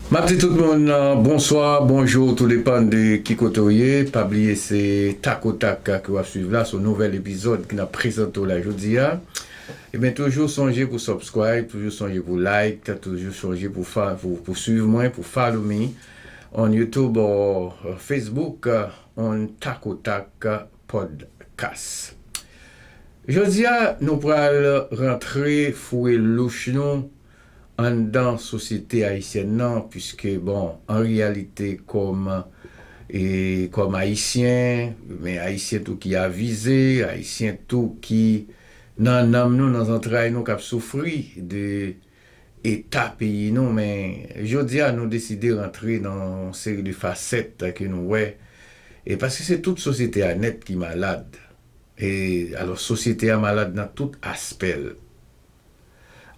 Map di tout moun bonswa, bonjour tou depan de ki kote ou ye, pa bliye se tak o tak ke wap swiv la, son nouvèl epizòd ke nap prezante w la jodi a, ebyen toujou sonje pou subscribe, toujou sonje pou like, toujou sonje pou fa pou swiv mwen, pou follow me on YouTube or Facebook on tak o tak podcast. Jodi a nou pral rantre foure louch nou. anndan sosyete ayisyèn nan puiske bon an reyalite kòm e kòm ayisyen men ayisyen tou ki avize ayisyen tou ki nan nanm nou nan zantray nou kap soufri de eta peyi nou men jodi a nou deside rantre nan yon seri de fasèt ke nou wè e paske se tout sosyete a nèt ki malad e alò sosyete a malad nan tout aspè l.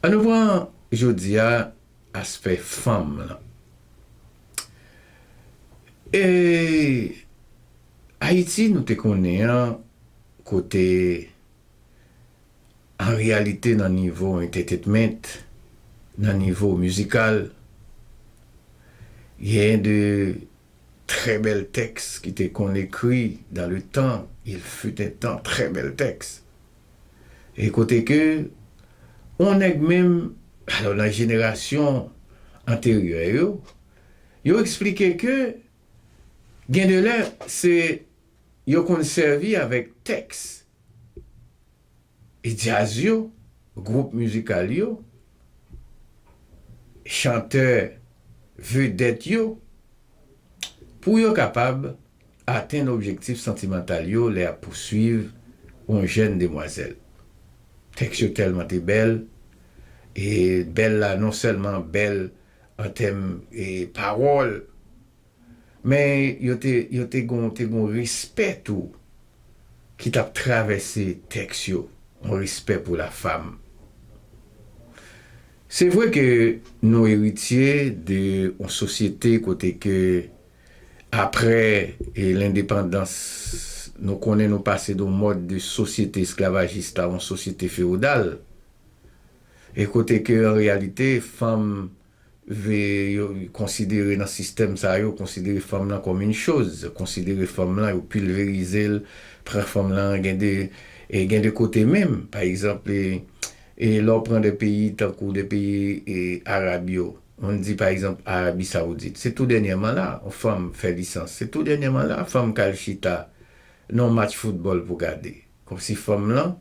An nou pran jodi a aspè fanm lan. E Ayiti nou te konnen an kote an reyalite nan nivo entetetment, nan nivo mizikal, genyen de trè bèl tèks ki te konn ekri dan le tan, il fut un temps, trè bèl tèks. e kote ke yon nèg menm, alò nan jenerasyon anteryè yo, yo eksplike ke gen de lè se yo konn sèvi avèk tèks djaz yo, gwoup mizikal yo, chantè vedèt yo, pou yo kapab. atenn objektif santimantal yo lè y ap pouswiv yon jèn demwazèl. Tèks yo tèlman te bèl, e bèl la non sèlman bèl an tèm pawòl, men yo te yo te gen yon te gen yon respè tou ki t ap travèse tèks yo, yon respè pou lafam. Se vre ke nou eritye de yon sosyete kote ke. Apre lendepandans, nou konnen nou pase don mòd de sosyete esklavajis la yon sosyete fewodal, e kote ke an reyalite fanm ve yo konsidere nan sistèm sa yo, konsidere fanm lan kòm yn choz, konsidere fanm lan, yo pilverize l, pran fanm lan gen de, e gen de kote menm, pa egzanp, e lè w pran de peyi tankou de peyi arab yo, Moun di pa egzanp Arabi Saoudit, se tou dènyèman la a yon fanm fè lisans, se tou dènyèman la a fanm ka al chita nan yon match foutbòl pou gade. Kòmsi fanm lan,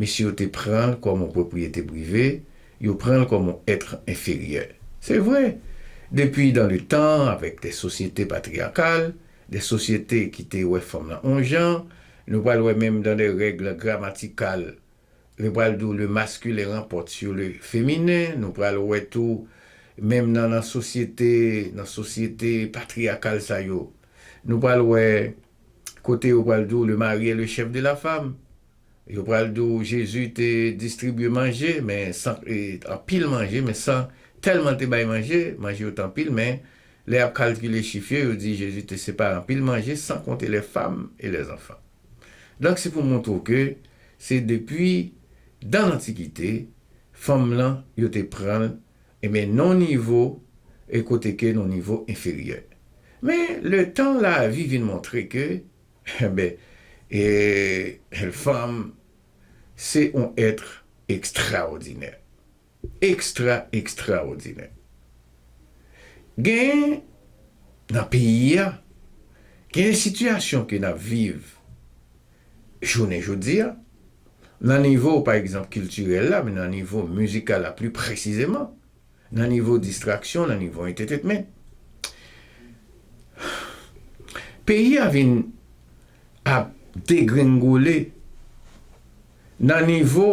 mesye yo te pran l kòm yon pwopriyete prive, yo pran l kòm yon être inférieur. Se vre, depi dans le temps, avèk des sociétés patriarcales, des sociétés ki te wè fanm lan yon jan, nou pral wè menm dans des règles grammaticales, Nou pral di w le masculin remporte sur le feminin, nou pral wè tou menm nan nan sosyete, nan sosyete patriakal sa yo, nou pral wè kote yo pral di w le mari est le chef de la femme, yo pral di w Jezi te distribye manje men san, anpil manje men san tèlman l te bay manje, manje yo te anpil men lè y ap kalkile chif yo, yo di Jezi te separe anpil manje san konte les femmes et les enfants. Donk se pou montre w ke se depi dan lantikite fanm lan yo te pran l enben nan yon nivo e kote ke nan yon nivo enferyè. Men letan lavi vin montre ke enben ee fanm se yon etre ekstraòdinè. Extra extraodinè gen nan peyi a gen sitiyasyon ke nap viv jounen jodia nan nivo pa egzanp kiltirèl la men nan nivo mizikal la pli presizeman nan nivo distraksyon nan nivo entetetment peyi a vin ap degrengole nan nivo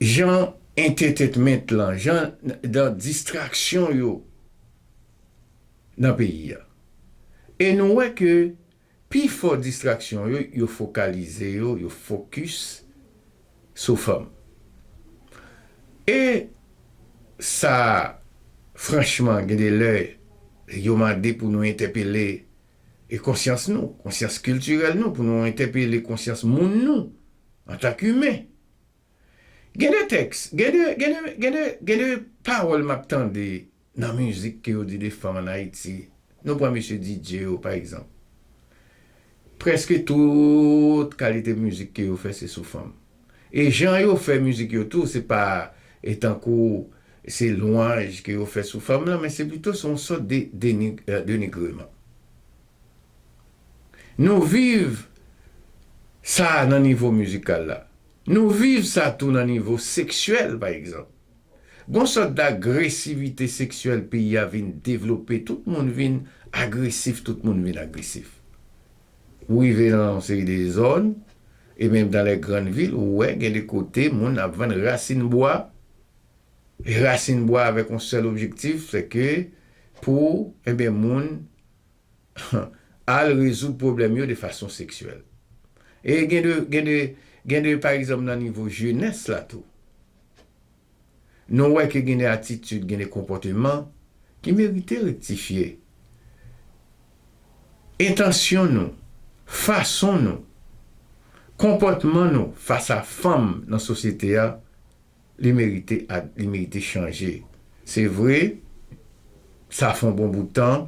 Jan entetetment lan, jan dan distraksyon yo nan peyi a. E nou wè ke pi fò distraksyon yo, yo fokalize yo, yo fokis sou fanm. E sa franchman gen de lè yo mande pou nou entèpele konsyans nou, konsyans kiltirèl nou, pou nou entèpele konsyans moun nou antank imen. Gen de tèks, gen de, gen de, gen de, gen de pawòl m ap tande nan mizik ke yo di de fanm ann Ayiti. Nou pran mesye Didye yo, pa egzanp. Prèske tout kalite mizik ke yo fè se sou fanm. E jan yo fè mizik yo tou, se pa e tankou se lwanj ke yo fè sou fanm lan, men se pito se yon sòt de, de, denigreman. Nou viv sa nan nivo mizikal la. Nou viv sa tou nan nivo seksyèl pa egzanp. Gon sòt dagresivite seksyèl peyi a vin devlope, tout moun vin agresif, tout moun vin agresif. Ou rive nan yon seri de zòn e menm dan lè grann vil ou wè gen de kote moun ap vann rasin bwa e rasin bwa avèk yon sèl objektif se ke pou enben moun al rezoud pwoblèm yo de fason seksyèl. E gen de, gen de, gen de pa egzanp nan nivo jenès la tou. Nou wè ke gen de atitid, gen de konpòteman ki merite rektifye. Entansyon nou, fason nou, konpòtman nou fas a fanm nan sosyete a, Li merite ak li merite chanje. Se vre, sa fè yon bon bout tan,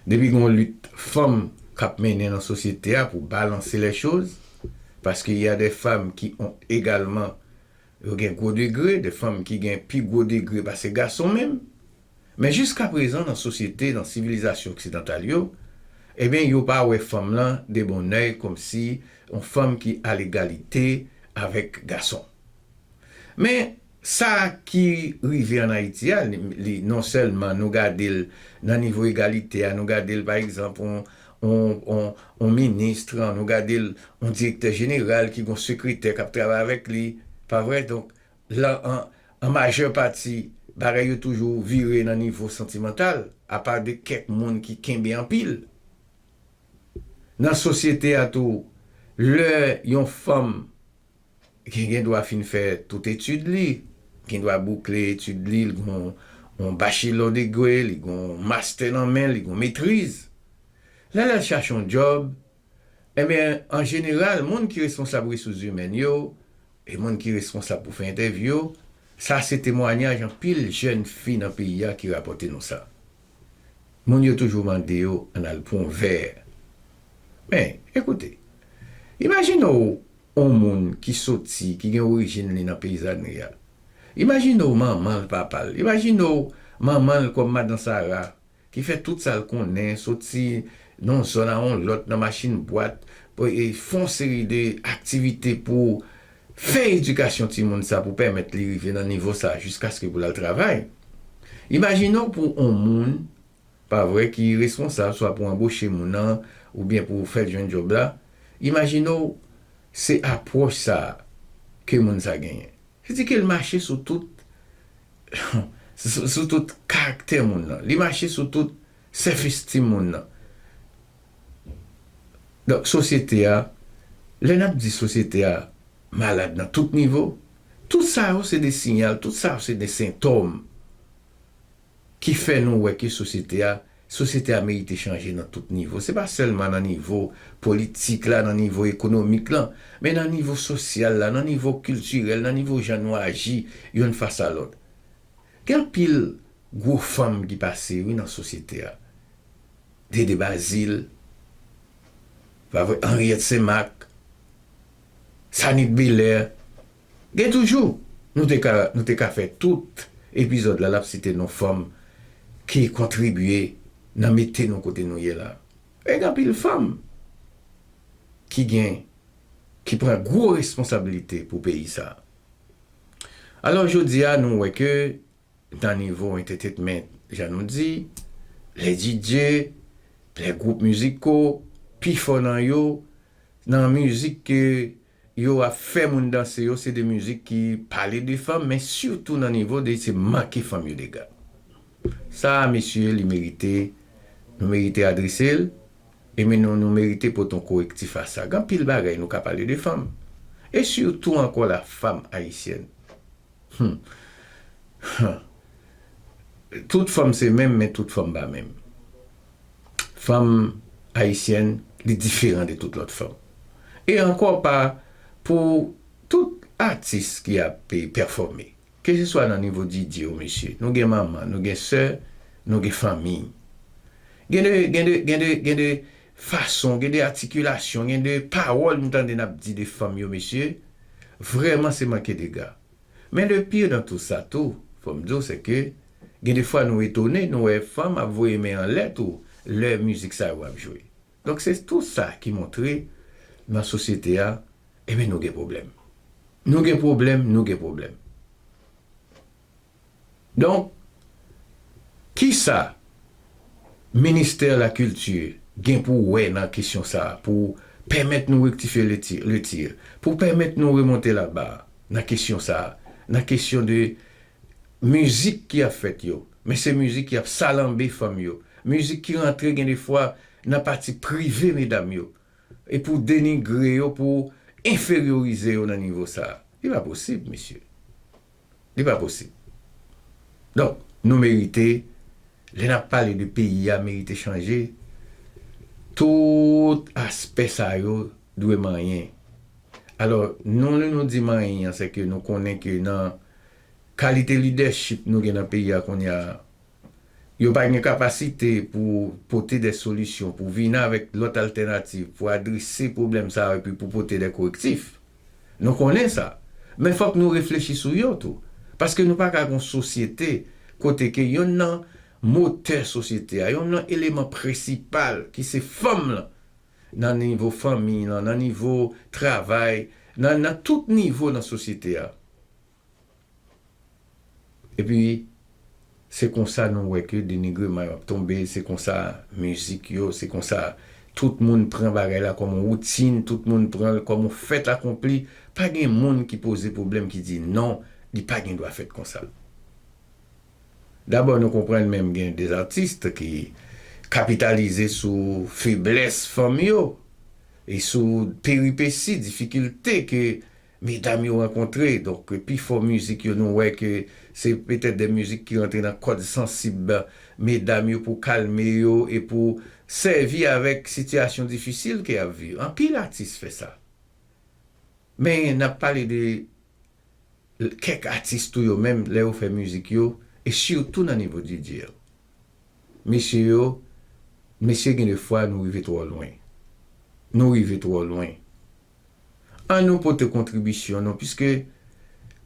depi gen yon lit fanm k ap mennen nan sosyete a pou balanse lè choz, paske y a dè fam ki on egalman yo gen gwo degre, dè fanm ki gen pi gwo degre pase gason menm. Men jiska prezan nan sosyete, nan sivilizasyon oksidantal yo, ebyen yo pa wè fanm lan de bon òy komsi yon fanm ki a legalite avèk gason. Men sa ki rive an Ayiti a, li non sèlman nou gade l nan nivo egalite a, nou gade l pa egzanp yon yon ministr, nou gade l yon direktè jeneral ki gen yon sekretè k ap travay avèk li, pa vre? Donk. Lan an, an majè pati, bagay yo toujou vire nan nivo santimantal, apa de kèk moun ki kenbe anpil. Nan sosyete a tou, lè yon fanm ki gen dwa fin fè tout etid li, gen dwa boukle etid li, li gen yon bachilò degre, li gen yon mastè nan men, li gen yon metriz. Lè lè l chache yon djòb, Enben, an jeneral, moun ki responsab resous zimèn yo e moun ki responsab pou fè entèvyou yo, sa se temwanyaj anpil jèn fi nan peyi a ki rapòte nou sa. Moun yo toujou mande yo ann al pran yon vè. Men, ekoute, imajine w yon moun ki soti, ki gen orijin li nan peyi Zagrya. Imajine w manman l, papa l. Imajine w manman l kòm Madan Sara, Ki fè tout sa l konnen, soti nan yon zòn a yon lòt nan machin bwat, fè yon seri de aktivite pou fè edikasyon timoun sa pou pèmèt li rive nan nivo sa jiskaske pou l al travay. Imajine w pou yon moun, pa vre, ki responsab swa pou anboche moun nan oubyen pou fè l jwenn djòb la, imajine w se apwòch sa ke moun sa genyen. Li di ke l mache sou tout, sou tout karaktè moun nan. Li mache sou tout self esteem moun nan. Donk sosyete a, lè n ap di sosyete a malad nan tout nivo, tout sa yo se de siyal, tout sa yo se de sentòm ki fè nou wè ke sosyete a, sosyete a merite chanje nan tout nivo. Se pa sèlman nan nivo politik la, nan nivo ekonomik lan, men nan nivo sosyal la, nan nivo kiltirèl, nan nivo jan nou aji youn fas a lòt. Gen anpil gwo fanm ki pase wi nan sosyete a. Dede Bazil, pa vre, Henriette St-Marc, Sanit Belair. Gen toujou Nou te ka Nou te ka fè tout epizòd la lap site non fanm ki kontribye nan mete nou kote nou ye la e gen anpil fanm ki gen ki pran gwo responsabilite pou peyi sa alò jodi a nou wè ke nan nivo entetetment jan nou di lè DJ lè gwoup miziko pifò nan yo nan mizik ke yo ap fè moun danse yo se de mizik ki pale de fanm men sitou nan nivo de se manke fanm yo dega sa a mesye li merite nou merite adrese l e men nou nou merite pot on korektif a sa gan pil bagay nou ka pale de fanm e sitou ankò la fam ayisyèn hum hum tout fanm se menm men tout fanm pa menm fanm ayisyèn li diferan de tout lòt fanm. E ankò pa pou tout atis ki ap pèfòme. Ke se swa nan nivo Didye ou mesye, nou gen manman, nou gen sè, nou gen fanmi. Gen de, gen de, gen de, gen de fason, gen de atikilasyon, gen de pawòl m tande n ap di de fanm yo mesye, vrèman se manke dega. Men le pire dans tout sa tou, fò m di w se ke gen de fwa nou etone nou wè fanm ap voye men anlè tou lè mizik sa yo ap jwe. Donk se tou sa ki montre nan sosyete a enben nou gen pwoblèm. Nou gen pwoblèm, nou gen pwoblèm. Donk, ki sa ministè lakilti gen pou wè nan kesyon sa a pou pèmèt nou rektifye le tir, pou pèmèt nou remonte la bar nan kesyon sa a, nan kesyon de mizik ki ap fèt yo, men se mizik ki ap salanbe fanm yo, mizik ki rantre gen de fwa nan pati prive medam yo, e pou denigre yo, pou enferyorize yo nan nivo sa a? Li pa posib, mesye. Li pa posib. Donk, nou merite, lè n ap pale de peyi a merite chanje, tout aspè sa yo dwe manyen. Alò, nou lè nou di manyen an, sèke nou konnen ke nan kalite lidèchip nou gen nan peyi a kounye a, Yo pa gen kapasite pou pote de solisyon, pou vini avèk lòt altènativ, pou adrese pwoblèm sa yo epi pou pote de korektif. Nou konnen sa. Men fòk nou reflechi sou yo tou. Paske nou pa ka gen yon sosyete kote ke yonn nan motè sosyete a, yonn nan eleman prensipal ki se fanm lan, nan nivo fanmiy lan, nan nivo travay, nan tout nivo nan sosyete a. Epi se konsa nou wè ke denigreman yo ap tonbe, se konsa mizik yo, se konsa tout moun pran bagay la kòm yon woutin, tout moun pran l kòm yon fèt akonpli, pa gen moun ki poze pwoblèm ki di non, li pa gen dwa fèt konsa. Dabò nou konprann menm gen de atis ki kapitalize sou feblès fanm yo e sou peripesi, difikilte ke. Medam yo rankontre, donk pi fò mizik yo nou wè ke se petèt de mizik ki rantre nan kòd sansib medam yo pou kalme yo e pou sèvi avèk sitiyasyon difisil ke yap viv. Anpil atis fè sa. Men nap pale de kèk atis tou yo menm lè yo fè mizik yo e sitou nan nivo DJ yo. Mesye yo, mesye gen de fwa nou rive twò lwen. Nou rive twò lwen. Annou pote kontribisyon nou piske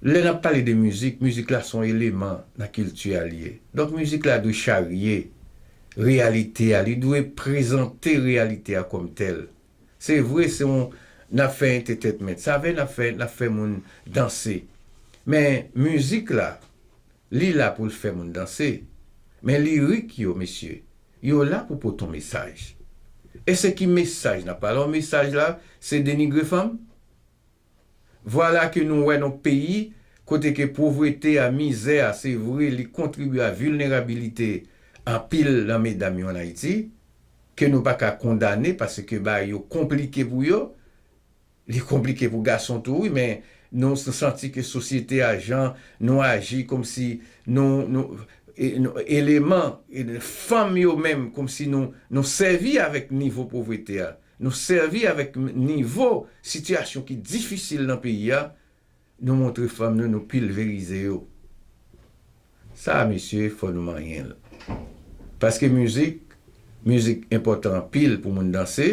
lè n ap pale de mizik, mizik la se yon eleman nan kilti a li ye. Donk mizik la dwe charye reyalite a, li dwe prezante reyalite a kòm tèl. Se vre se yon n ap fè entetetment, sa vle n ap fè n ap fè moun danse. Men mizik la li la pou l fè moun danse. Men lirik yo mesye, Yo la pou pot on mesaj. E se ki mesaj nap pale on mesaj la se denigre fanm? Vwala ke nou wè non peyi kote ke pwovrete a, mizè a se vre li kontribye a vilnerabilite anpil nan medam yo an Ayiti, ke nou pa ka kondane paske bagay yo konplike pou yo, Li konplike pou gason tou wi men nou santi ke sosyete a jan nou aji komsi nou nou eleman fanm yo menm komsi nou nou sèvi avèk nivo povrete a nou sèvi avèk nivo sitiyasyon ki difisil nan peyi a Nou montre fanm nou nou pilverize yo sa mesye fò nou manyenl paske mizik mizik enpòtan anpil pou moun danse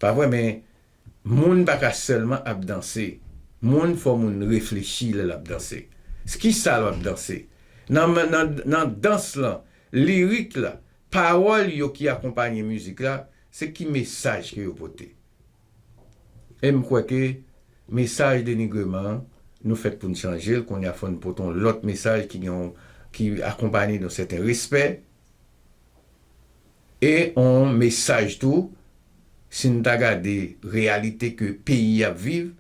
pa vwè men moun pa ka sèlman ap danse moun fò moun reflechi lè lap danse skisa lap danse nan nan dans lan lirik la pawòl yo ki akonpanye mizik la se ki mesaj ke yo pote. E m kwè ke mesaj denigreman an, nou fèt pou n chanje l, kounye a fò n pote yon lòt mesaj ki gen yon, ki akonpanye yon sèten respè, e yon mesaj tou, si n ta gade reyalite ke peyi ap viv,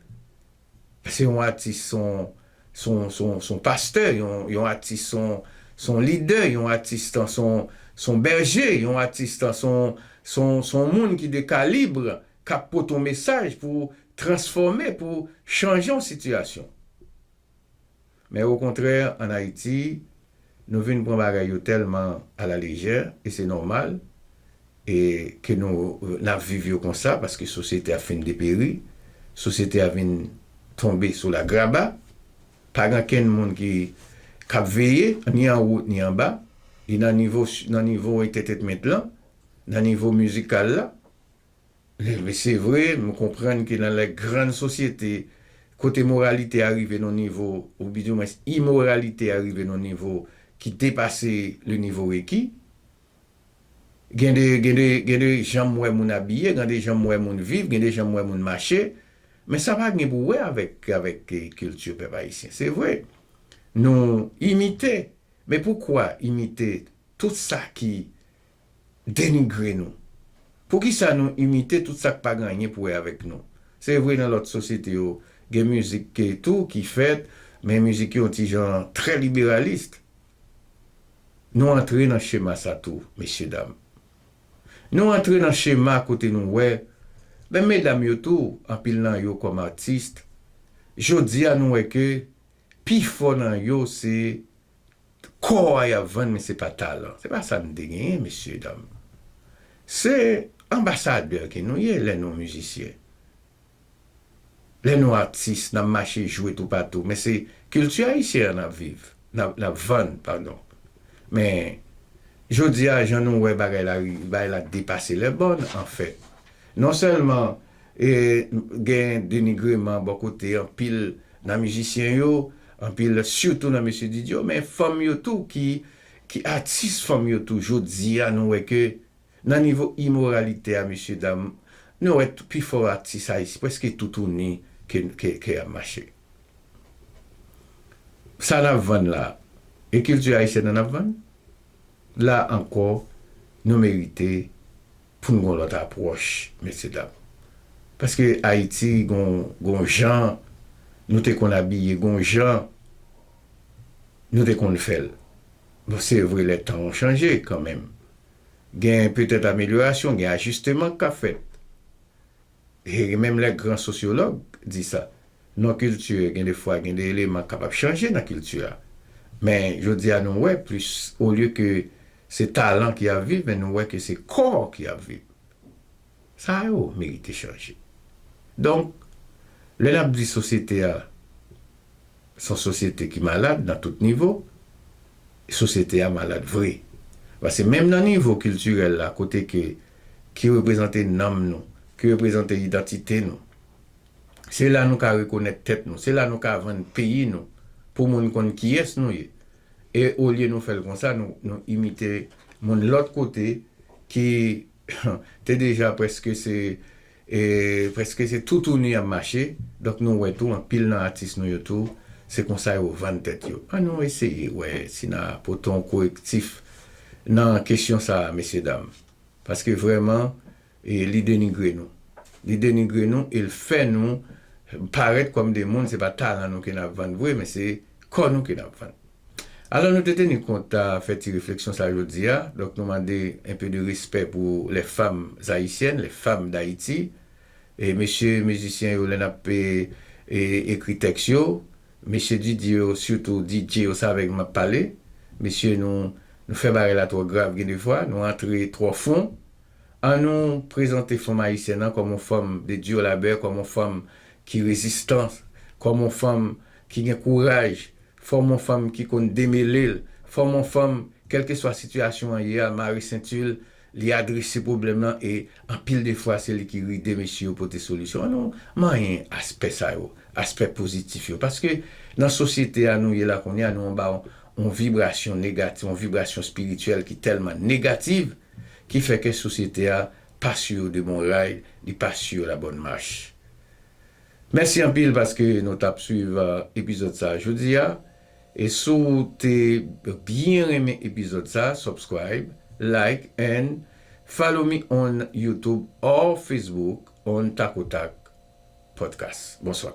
Se yon atis, se yon pastè, yon atis, se yon lidè, yon atis, se yon bèje, yon atis, se yon moun ki de kalibre, k ap pote yon mesaj pou transfòme, pou chanje yon sitiyasyon. Men okontrè an Ayiti, nou vin pran bagay yo tèlman a la lejè, e se nòmal, e ke nou, n ap viv yo konsa, paske sosyete a fin deperi, sosyete a vin tonbe sou lagraba, pa gen kenn moun ki, k ap veye, ni anwo, ni anba, ni nan nivo, nan nivo entètetment lan, nan nivo mizikal la. Li vre se vre, nou konprann ke nan lè grann sosyete kote moralite a rive nan yon nivo, ou bi di mwens imoralite a rive nan yon nivo ki depase le nivo reki, gen de, gen de, gen de jan m wè moun abiye, gen de jan m wè moun viv, gen de jan m wè moun mache, men sa pa gen pou wè avèk, avèk kilti pèp ayisyen. Se vre, nou imite, men poukwa imite tout sa ki. denigre nou? Poukisa nou imite tout sa k pa gen anyen pou wè avèk nou? Se vre nan lòt sosyete yo gen mizik tou ki fèt, men mizik yo yon ti jan trè liberalist. Nou antre nan chema sa tou, mesyedam. Nou antre nan chema kote nou wè, menm medam yo tou, anpil nan yo kòm atis, jodi a nou wè ke pi fò nan yo se Kò a yap vann men se pa talan. Se pa sa nou te genyen mesye dam. Se anbasadè ke nou ye lè nou mizisyen. Lè nou atis nap mache jwe toupatou men se kilti ayisyen an nap viv, nap vann padon. Men jodi a jan nou wè bagay la, bagay la depase lèbòn anfèt. Non sèlman gen denigreman bò kote anpil nan mizisyen yo, anpil sitou nan Mesye Didi yo, men fanm yo tou ki atis fanm yo tou jodi a nou wè ke nan nivo imoralite a mesye dam nou wè pi fò atis ayisyen prèske tout tou ni ke yap mache. Sa nap vann la e kilti ayisyèn an nap vann? La ankò nou merite pou n gon lòt apwòch mesye dam paske ayiti gon gon jan nou te konn abiye gon jan nou te konn fè l bon se vre lè tan an chanje kanmenm gen petèt amelyorasyon gen ajisteman k ka fèt Hee menm lè gran sosyològ di sa non kilti gen de fwa gen de eleman k kapab chanje nan kilti a men jodi a nou wè plis olye ke se talan ki ap viv men nou wè ke se kò ki ap viv sa yo merite chanje donk lè n ap di sosyete a Se yon sosyete ki malad nan tout nivo. Sosyete a malad vre. Pase menm nan nivo kiltirèl la kote ke ki reprezante nanm nou, ki reprezante idantite nou. Se la nou ka rekonèt tèt nou. Se la nou ka vann peyi nou pou moun konn kiyès nou ye. E olye nou fè l konsa, nou imite moun lòt kote ki te deja prèske se E preske se toutouni yap mache, donk nou wè tou anpil nan atis nou yo tou se konsa yo vann tèt yo. An nou eseye wè si na pote yon korektif nan kesyon sa a mesye dam. Paske vrèman li denigre nou. Li denigre nou e l fè nou parèt kòm de moun se pa talan nou ke nap vann vre men se kò nou ke nap vann. Alò nou te teni kont ta fè ti refleksyon sa jodi a, donk nou mande un peu de respect pou les femmes haïtiennes, les femmes d'Haïti. E mesye mizisyen yo lè nap ekri tèks yo, mesye DJ yo sitou DJ yo sa avèk map pale, mesye nou nou fè bagay la twò grav gen de fwa, nou antre twò fon. An nou prezante fanm ayisyèn an kòm on fanm de dur labeur, kòm on fanm ki rezistan, kòm on fanm ki gen kouraj. Fòm on fanm ki konn demele l. Fòm on fanm, kèlkeswa sitiyasyon an ye a, mare senti l, li adrese pwoblèm lan e anpil de fwa se li ki ride mesye yo pote solisyon an. Nou manyen aspè sa yo, aspè pozitif yo paske nan sosyete a nou ye la kounye a nou anba on vibrasyon negatif, on vibrasyon espirityèl ki tèlman negativ ki fè kè sosyete a pa su yo de bon ray, li pa su yo la bonne marche. Mèsi anpil paske nou tap swiv epizòd sa jodi a e si w te byen renmen epizòd sa subscribe like and follow me on youtube or facebook on takotak podcast. Bonswa.